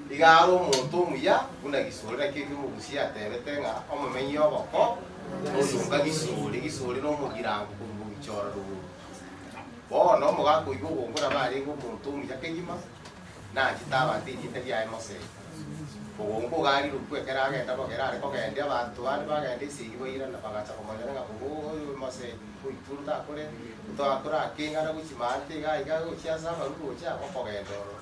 Igaro omonto omuya buna gisori, naki ekio omogusia atebete ng'a omomenyi ogoko oyonga gisori, gisori nomogirango korwa obichora rogoro. Bono omoga akoigwa ogongo nabo arenge omonto omuya kegima, nache tabate erieta riaye mosegi. Ogongo iga arirokwe ekero agenda bogere are kogendia, abanto bande bagenda esegi bairana bagacha komonyora ng'a ogo oyo mosegi oitwe takoreti, torakora akeng'ana gochia maate iga iga gochia ase amaruru gochia okogenda ororo.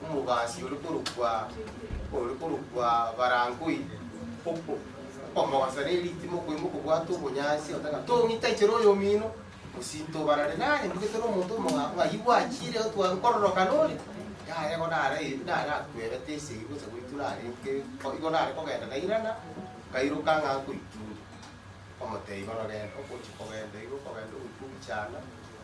Omobaasi ore korokwa ore korokwa Barangoi, ok omogosa ne ritima okoima okobwata obonyansi oteba ng'a tong'i techera oyo omino, mosinto obarare nare mbugete na omonto omong'ao ng'ai gwachire otware nkororokana ore, yaya igo nare nare akwebete esegi gocha goitwa narenge o igo nare kogenda nairana, nkairoka ng'a nkoitunda. Omotebia bono genda okochi kogenda igo okogenda ogoika ogichanda.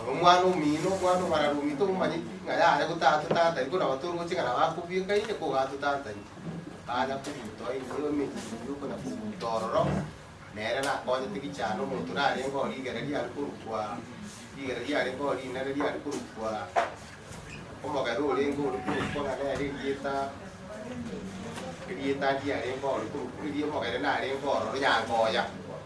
Oyo omwana omino, omwana obararomite omomanyeti ng'a yare gotaatotantaria, buna abato oroche ng'a nabo akobwekaine ko gatotantaria. Akanya kobuta enyio emechie enyio okonya kobuta ororo, nere nakonyete gichana omonto narenge oo rigere riare korokwa rigere riarenge oo rinene riare korokwa omogera orenge ore korokwa ng'a nere erieta erieta riarenge ore korokwa eria omogere narenge ororo Nyangoya.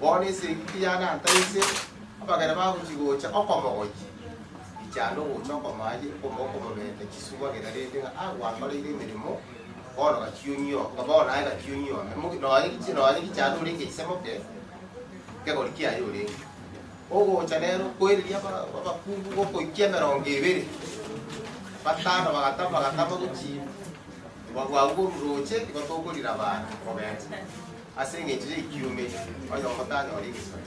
Bono esegi teyane anta inse, abageni bagochia gocha okomogochia, richande ogocha okomoa aye, okomoa okomobeta chisubo agere rende ng'a a gwankoreire emeremo, bono gachia onyuo, nga bono naye gachia onyuome, moge nonya richi nonya richande ore ng'echia moke kegori kiaye orenge. Ogocha nero koereria aba- abakungu gokoikia emerongo ebere, batano bagatama bagatama gochia Obwabu oburoche nigo tokorira baana, obete, ase engencho y'ekiume, oyomo tanyore egesori.